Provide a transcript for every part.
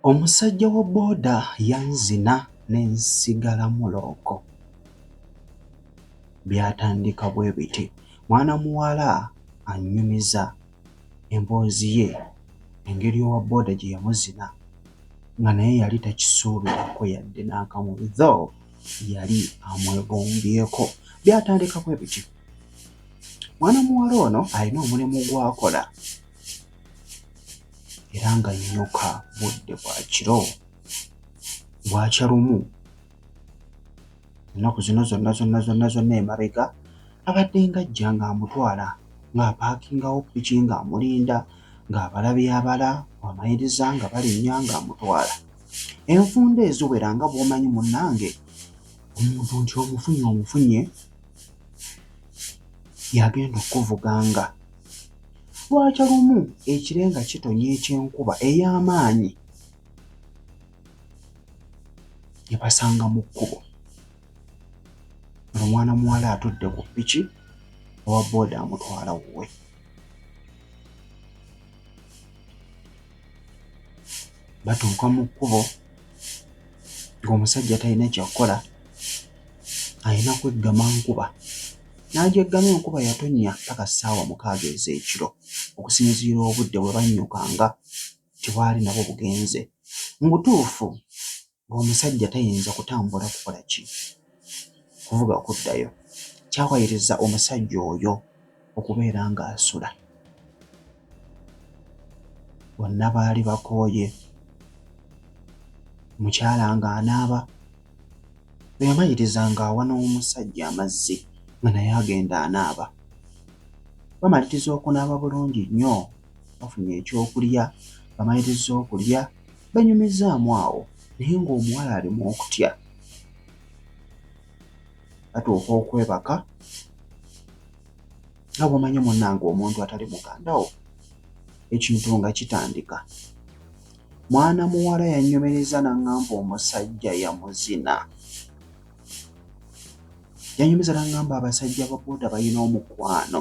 Omusajja wa boda yanzina ne nsigala mulooko. Byatandika bwe biti, mwana muwala annyumiza emboozi ye engeri owa boda gye yamuzina nga naye yali takisuubirako yadde n'akamu though yali amwegombyeko byatandika bwe bityo mwana muwala ono alina omulimu gw'akola era nga nnyuka budde bwa kiro bwakya lumu ennaku zino zonna zonna zonna zonna emabega abadde ng'ajja ng'amutwala ng'apaakingawo piki ng'amulinda ng'abalabi abala amayiriza nga balinnya ng'amutwala enfunda eziwera nga bw'omanyi munnange omuntu nti omufunye omufunye yagenda okuvuga nga lwakya lumu ekirenga kitonnya ekyenkuba ey'amaanyi ne basanga mu kkubo omwana muwala atudde ku piki owa booda amutwala wuwe batuuka mu kkubo ng'omusajja talina kyakukola alina kweggama nkuba n'agyeggama enkuba yatonnya paka ssaawa mukaaga ez'ekiro okusinziira obudde bwe bannyukanga. gye bwali nabwo bugenze mu butuufu ng'omusajja tayinza kutambula kukola ki kuvuga okuddayo kyawayiriza omusajja oyo okubeera ng'asula bonna baali bakooye mukyala ng'anaaba bwe yamayiriza ng'awa n'omusajja amazzi nga naye agenda anaaba bamaliriza okunaaba bulungi nnyo bafunye ekyokulya, bamalirizza okulya benyumizzaamu awo naye ng'omuwala ali mu okutya. Batuuka okwebaka nga bw'omanyi munnange omuntu atali muganda wo ekintu nga kitandika. Mwana muwala yanyumirizza n'aŋŋamba omusajja yamuzina. Yanyumiza n'aŋŋamba abasajja ba boda balina omukwano.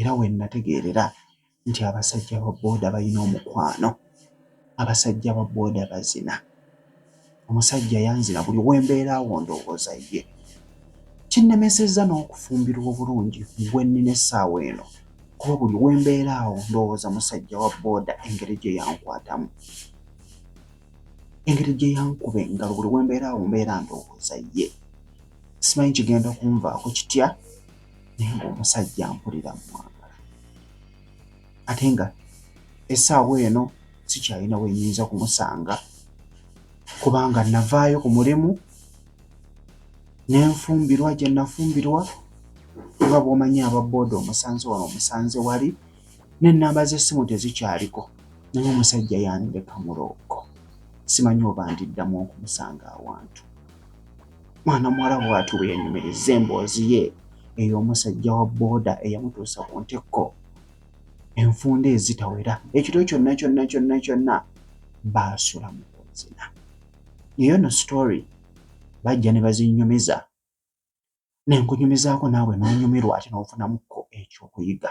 era we nnategeerera nti abasajja ba booda balina omukwano abasajja ba booda bazina omusajja yanzina buli wembeera awo ndowooza ye kinnemesezza n'okufumbirwa obulungi gwe nnina essaawa eno kuba buli wembeera awo ndowooza musajja wa booda engeri gye yankwatamu engeri gye yankuba engalo buli wembeera awo mbeera ndowooza ye simanyi kigenda kunvaako kitya naye ng'omusajja mpulira mwagala ate nga essaawa eno sikyalina we nyinza kumusanga kubanga navaayo ku mulimu ne nfumbirwa gye nafumbirwa nga bw'omanyi aba booda omusanze wano omusanze wali n'ennamba z'essimu tezikyaliko naye omusajja yandeka mulooko simanyi oba ndiddamu okumusanga awantu mwana muwala bw'ati bwe yanyumirizza emboozi ye ey'omusajja wa booda eyamutuusa ku ntikko enfunda ezitawera ekiro kyonna kyonna kyonna kyonna baasula mu kunzina naye ono sitori bajja ne bazinyumiza ne nkunyumizaako naawe n'onyumirwa ate n'ofunamuko ekyokuyiga